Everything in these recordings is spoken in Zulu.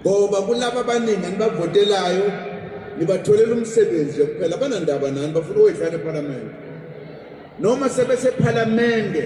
ngoba kulaba abaningi anibavotelayo nibatholela umsebenzi nje kuphela banandaba nani bafuna ukwedlana ephalamende noma sebesephalamende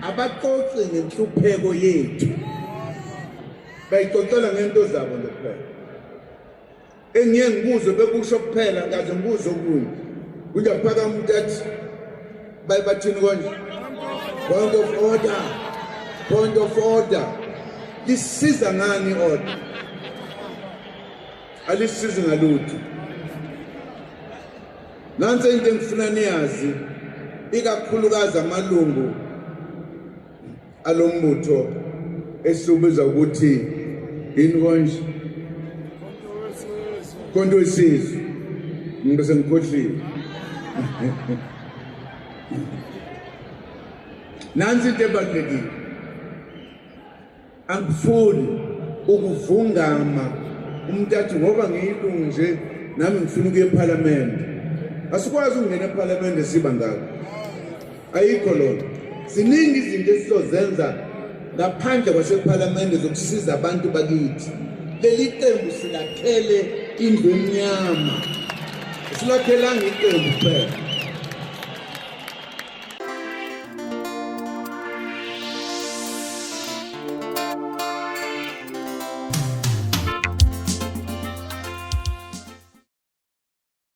abaxoxi ngenhlupheko yethu bayixoxela ngento zabo nje kuphela engiye ngibuze bekusho kuphela kaze ngibuze okunye kunje kuphaka umuntu athi baye bathini konje point of order point of order lisiza ngani order alisizi ngalutho nansi into engifuna niyazi ikakhulukazi amalungu alo mbutho esiwubiza ukuthi yini konje konto wesizwe ngibe sengikhohliwe nansi into ebalulekile angifuni ukuvungama umuntu athi ngoba ngiyilungu nje nami ngifuna ukuya ephalamende asikwazi ukungena ephalamende siba ngako ayikho lona ziningi izinto esizozenza ngaphandle kwasephalamende zokusiza abantu bakithi leli qembu silakhele indlu emnyama silakhelanga iqembu kuphela